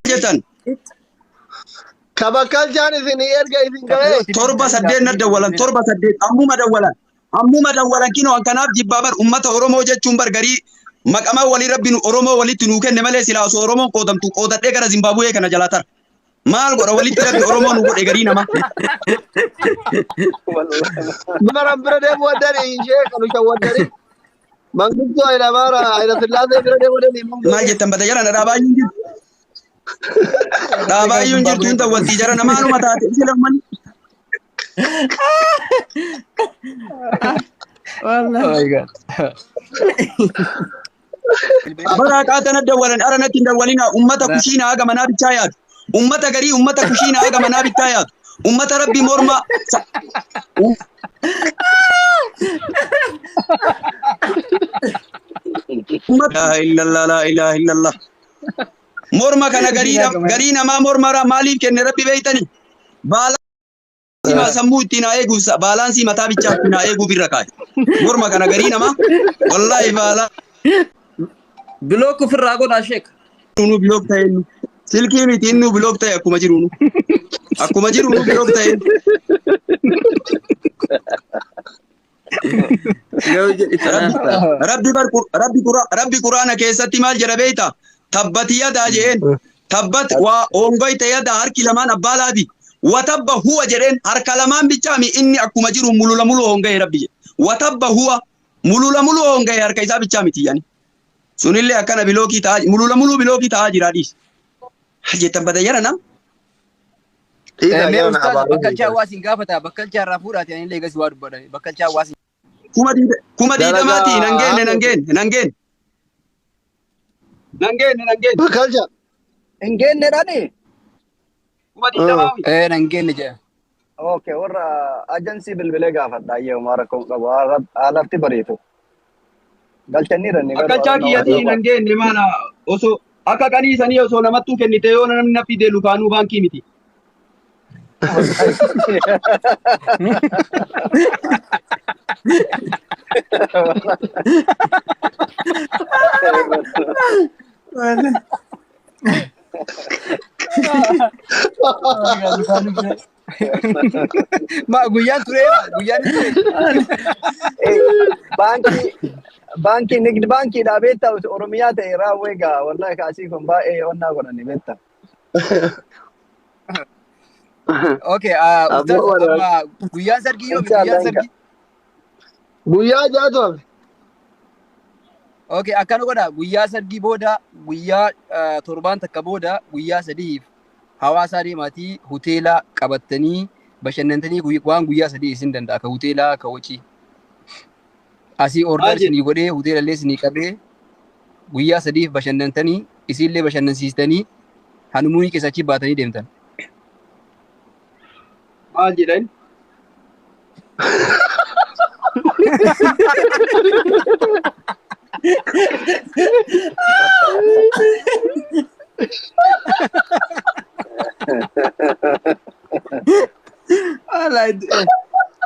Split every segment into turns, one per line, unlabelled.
jetan Kabakkalchaan isin erga isin ga'ee. torba saddeet na
dawwalan torba saddeet ammuma dawwalan ammuma dawwalan kinoo an kanaaf jibbaa bar ummata oromoo jechuun bar garii maqamaa walii rabbi nu oromoo walitti nuu kenne malee silaa osoo oromoon qoodamtu qoodadhee gara zimbaabuwee kana jalaa tara Maal godha walitti rabbi Oromoo nu godhe garii nama.
Maran bira deemu waddani ishee kan ushan waddani. Manguddoo Hayila Maara Hayila Sillaasee bira deemu waddani. Maal jettan bada jara na
dhaabaa hin jirtu. Dhaabaa hin jirtu hin ta'u wanti jara namaanuma taate sila ummanni.
Wallah. Oh my god.
Bara haqaa tana dawwalan ara natti hin dawwalina. Ummata kushiina haga manaa bichaa yaadu. Ummata garii ummata kushiina haga manaa bichaa yaadu. Ummata rabbi morma. sa- u- Ummata laa illallah laa ilaaha illallah. Morma kana garii nam- garii namaa mormara maaliif kenne rabbi beektani? Baala Simaa sammuu ittiin haa eeguuf sa- baalaansii mataa bichaa ittiin haa eeguuf irra kaa'i. Morma kana garii namaa wallaahi baalaa
Bilook ofirraa godhaa sheek. nu bilook ta'e
inni. Silkii miti inni nu bilook ta'e akkuma jiru nu. Akkuma jiru nu bilook ta'e. Yoo jedhi kanaaf ta'a. Rabbi bar Qur- Rabbi Qura- Rabbi Quraana keessatti maal jedha beekta? Tabbati yadaa jeen. Tabbat waa hoongoyte yadaa harki lamaan abbaa laati. Watabba huwa jedheen harka lamaan bichaa mi inni akkuma jiru mulula mulu hoonga'e rabbi jedhe. Watabba huwa mulula mulu hoonga'e harka isaa bichaa miti yani. Sunillee akkana bilookii ta'aa mulula mulu bilookii ta'aa jira dhiis. Jettan bada yara nam.
Dhiisaa Mee gaana ustaaz abaaruu bakkalchaa beekan. waa isin gaafata bakkalchaa irraa fuudhaati ani illee eegas waa dubbadha bakkalchaa waa isin kuma diida-
kuma diidamaati Dalagaa nan geenne nan haamee geenne nan geenne
nan geenne nan geenne Bakkalcha. hin
geenne dhani kuma Ah.
diidamaa miti ee nan geenne
jedha. okay warra
ajansii bilbilee gaafadha ayyee homaa rakkoo hin qabu Haala- haalatti bariitu Galchanii ranne garuu Akkachaa arannoo kiyyatii
waaqayyoo hin baatu. hangeenye maala osoo akka qanii sanii osoo namattuu kennite yoo namni na fidee lukaanuu baankii miti.
Wallahi. Ma guyyaan tureera guyyaan hin ture.
baankii baankii nigd baankiidha beektaa oromiyaa ta'e raawwee gaa wallahi kaasii kun baay'ee onnaa godhani beekta.
Okay ah, Aboo ustaaz waraana. amma guyyaan sargii yoomi Inshallah guyyaan inka. sargii.
Guyyaa jaatu hafe. Okay
akkana godha guyyaa sargii booda guyyaa ah, torbaan takka booda guyyaa sadiif Hawaasaa deemaatii huteela qabattanii bashannantanii guyy- waan guyyaa sadii isin danda'a ka huteelaa ka wacii. Asii Maal order jedhe? isinii godhee huteelallee isinii qabee guyyaa sadiif bashannantanii isiillee bashannansiistanii hanumuunii keessa achii baatanii deemtan.
Maal jedhan?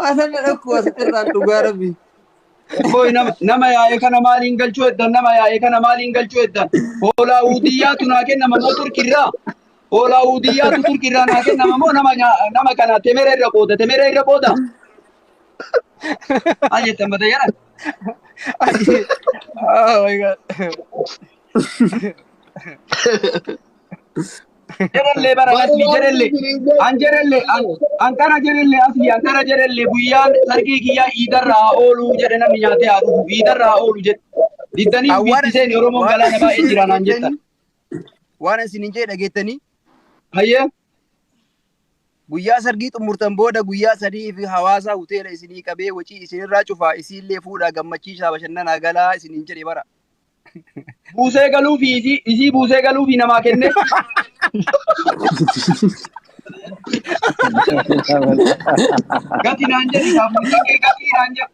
Asan na dhokku asitti irraan dhugaa rabbi. Boy nama nama yaa'e kana maaliin galchuu eddan nama yaa'e kana maaliin galchuu eddan hoolaa uudiyyaa tunaa kennama moo turkirraa Hoolaa Uudiyyaatu Turkii irraa naa kennama moo nama nyaa- nama kana temera irra qooda temera irra qooda maal jettan mata jara Oh
my god.
jerellee bara asli jerellee an jerellee an an kana jerellee asli an kana jerellee guyyaan sargii kiyyaa iidarra haa oolu jedhe namni nyaatee haa dhufu iidarra haa oolu jedhe diddanii Awwaara- biitti seeni oromoon galaana baay'ee jira naan jettan Waan
isin hin jee dhageettanii Hayyee. guyyaa sargii xumurtan booda guyyaa sadii fi hawaasaa hoteela isinii qabee wacii isinirraa cufaa isiillee fuudhaa gammachiisaa bashannanaa galaa isin hin jedhe bara. Buusee
galuu fi isii isii buusee galuu fi namaa kennee. Gati naan jedhi gaaffiin kee gatii naan jedhi.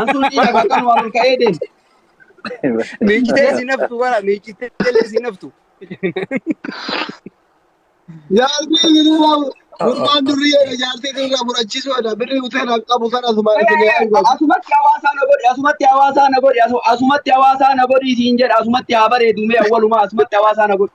Antuu dhiira bakkan waan ol ka'ee deemu.
Miicitee si naftu bara miicitee illee si naftu.
Jaartii biraa gurbaan durri jedha jaartii biraa fudhachiisuu jedha birri uteen an qabu sana asuma isin yaa argatu. Asumatti
hawaasaa na godhi, asumatti hawaasaa na godhi, asu- asumatti hawaasaa na godhi siin jedha, asumatti haa bareedu mee awwalumaa asumatti hawaasaa na godhi.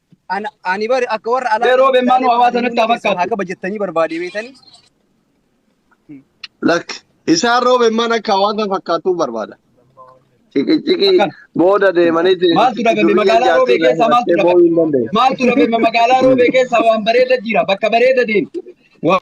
Ana- Ani bari akka warra alaa Mee roobeen maanuu hawaa ani sanatti
haa keessan haa fakkaattu. kabajattanii barbaade
beetanii
Lak isaan roobeen maan akka hawaasa fakkaattuu barbaada. Ciqiciqii Akkan. booda
deemaniiti
Maaltu dhabame durriyyeen magaalaa jaartii
roobee irraa keessaa maaltu hidhattee dhabame? boo'uu hin danda'u. Maaltu dhabame magaalaa roobee keessaa waan bareeda jira bakka bareeda deemi. Waan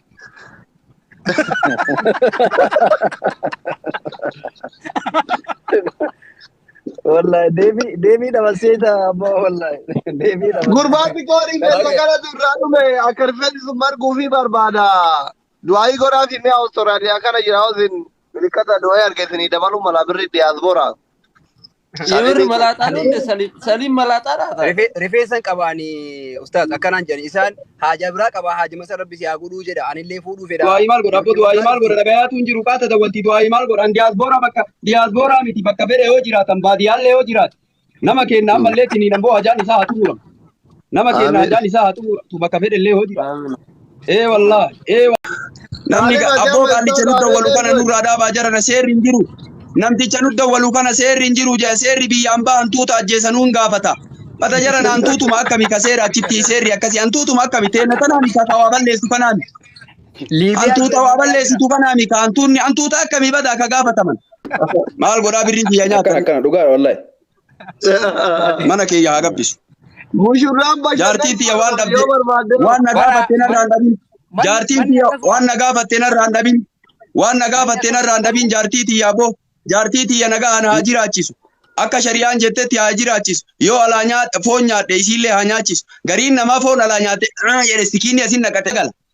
Wallahi deebii deebii dabarsee ta'a amma wallahi deebii dabarsee. Gurbaatti qoodii keessa
gara durraa dhume akka rifeensi sun marguu fi barbaada. Du'aayii godhaa fi mi'a Awustiraaliyaa kana jira hosin milikkata du'ee arge isinii dabaluu mala birri diyaasboora. Saalee
Yemirri beekuu malaaxaa ani loonde saliin saliin malaaxaa laata? rife- rifeensan qaba
ani ustaaz akkanaan jedhani isaan haajaa biraa qaba haajima san rabbi si haa godhuu jedha anillee fuudhuu fedha Du'aayii maal godha? Abbo rabbi du'aayii
maal godha? ramadaa Dhagayaatu hin jiru qaata dawwanti du'aayii maal godha? An diyaasbooraa bakka diyaasbooraa miti bakka fedhe yoo jiraatan baadiyyaallee yoo jiraate nama keenya ammallee tiniin ammoo hajaan isaa haa xumuramu. Nama keenya Aamiin. addaan isaa haa tumuratu bakka fedhe illee hoo jira. Aamiin. Ee wallah. Ee wa- Namni Taalib Ajaa abboo qaandicha Weessaa nu Taalib dawwalu kana Eeyyee. nurraa dhaabaa jarana seerri hin jiru. Namticha nu dawwalu kana seerri hin jiru jedha. Seerri biyya ambaa hantuuta ajjeesa nuun gaafata. Bata jarana hantuutuma akkami ka seera achitti seerri akkasi hantuutuma akkami teena tanaami ka ka waa balleessu kanaami. Liibiyaa Hantuuta waa balleessitu kanaami ka hantuunni hantuuta akkami badaa ka gaafataman. Maal godhaa birrii kiyya Akka nyaatan. akkana dhugaadha wallahi. Mana kiyya haa gabbisu. Mushurraan bashannanuu
Jaartiin tiyya waan barbaadde dhabde.
yoo barbaadde Waan na
gaafatte narraa
hin dhabin. Manni- Jaartiin manni tiyya akkasuma. waan na gaafatte narraa hin dhabin. Waan na gaafatte narraa hin dhabin jaartii tiyya aboo. Jaartii tiyya nagaan haa jiraachisu. Akka shari'aan jettetti haa jiraachisu. Yoo alaa nyaadhe foon nyaadhe isiillee haa nyaachisu. Gariin namaa foon alaa nyaate "Ah" jedhe sikiinni asin naqate gala.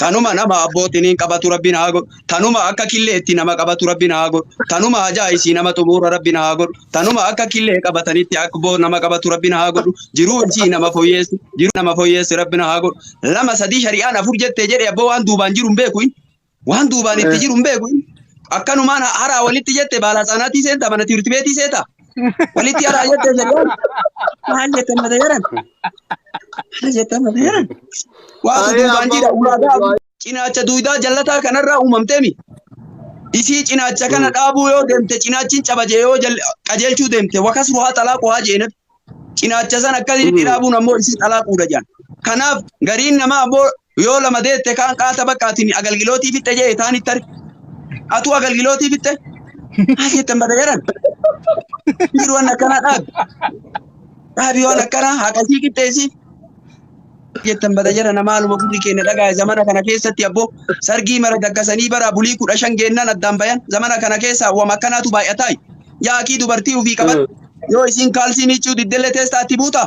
Tanuma nama abbootiin hin qabatu rabbiin haa godhu. Tanuma akka killee itti nama qabatu rabbiin haa godhu. Tanuma hajaa isii nama xumuura rabbiin haa godhu. Tanuma akka killee qabatanitti akboo nama qabatu rabbiin haa godhu. Jiruu isii nama foyyeessu. Jiruu nama foyyeessu rabbiin haa godhu. Lama sadii shari'aan afur jettee jedhe abboo waan duubaan jiru hin beeku. Waan duubaan itti jiru hin beeku. Akkanumaan haraa walitti jette baala hsaanaatii seenta mana tiirti beetii seeta. Walitti haraa jette jedhan. Maal jettan mata jedhan. Maal jettan mata jedhan. Waatu duubaan jira ulaagaa cinaacha duudaa jallataa kanarraa uumamteemi. Isii cinaacha kana dhaabuu yoo deemte cinaachiin caba jee yoo qajeelchuu deemte wakas ruhaa xalaaqu haa jee nabi. Cinaacha san akkasitti dhaabuun ammoo isii xalaaquudha jedhan. Kanaaf gariin namaa ammoo Yoo lama deette kaan qaata bakka atin agalgilootii fixxe jee taan itti arge. Atuu agalgilootii fixxe? Haa jettan bada jedhan. Jiru waan akkanaa dhaabi. Dhaabi waan akkanaa haqasii qixxeessi. Jettan bada jedhan maaluma gurri keenya dhagaa'e zamana kana keessatti abboo sargii mara daggasanii bara bulii kudha shan geennaan addaan bayan zamana kana keessa wam akkanaatu baay'ataa. Yaakii dubartii ofii qaban yoo isiin kaalsii miiccuu diddellee teessaa itti buutaa?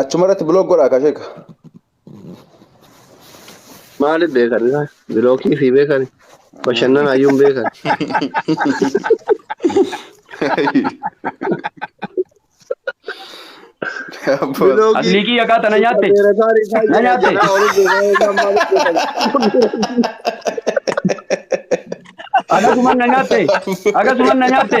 Achuma
irratti biloog godhaa ka sheeka.
Maaliif beekan isaa? Bilookii fi beekan. Bashannana ayyuun beekan.
Bilookii. Aslii kiyya kaa tana nyaatte. Beerataan isaa Na nyaatte. jira. Olis beekan isaa maaliif beekan? Akkasuman na nyaatte. Akkasuman na nyaatte.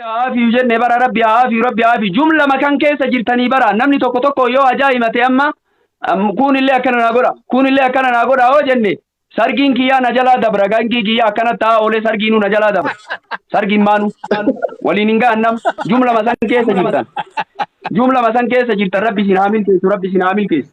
haafiyu jenne bara rabbi haafiyu rabbi haafiyu jumla makan keessa jirtanii bara namni tokko tokko yoo hajaa himate amma kuunillee akkana naa godha kuunillee akkana naa godha hoo jenne sargiin kiyyaa na jalaa dabra gangii kiyyaa akkana ta'aa oolee sargiinuu na jalaa dabra sargiin maanu waliin hin ga'an nam jumla masan keessa jirtan jumla masan keessa jirtan rabbi isin haa milkeessu rabbi isin haa milkeessu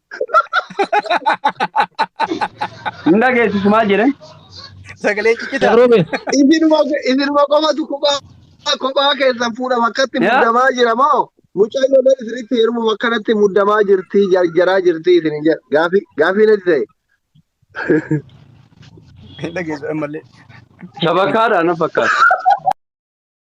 Hin dhageessisu maal jedhan? Sagalee
ciccitaa. Gabroo bee. Isinuma
isinuma qofatu kophaa kophaa keessan fuudhama akkatti Yaa. muddamaa jira moo mucaan lolee isinitti heerumu akkanatti muddamaa jirti jarjaraa jirti isin hin jedha gaafii gaafii natti ta'e.
Hin dhageessu ammallee. Shabakaadha
na fakkaata.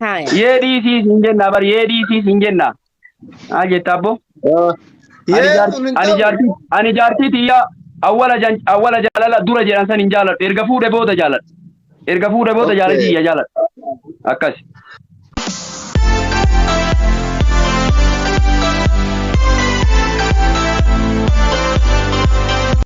Haya. Yee dhiisii siin jenna bar yee dhiisii siin jenna. Haa jetta abbo. Ah, Ani Yee jaartii kun hin ani ta'u. jaartii ani jaartii tiyyaa awwala jan awwala jaalala dura jedhan san hin jaaladhu. Erga fuudhe booda jaaladha. Erga fuudhe booda Okay. jaalalli tiyya jaaladha. Akkasi.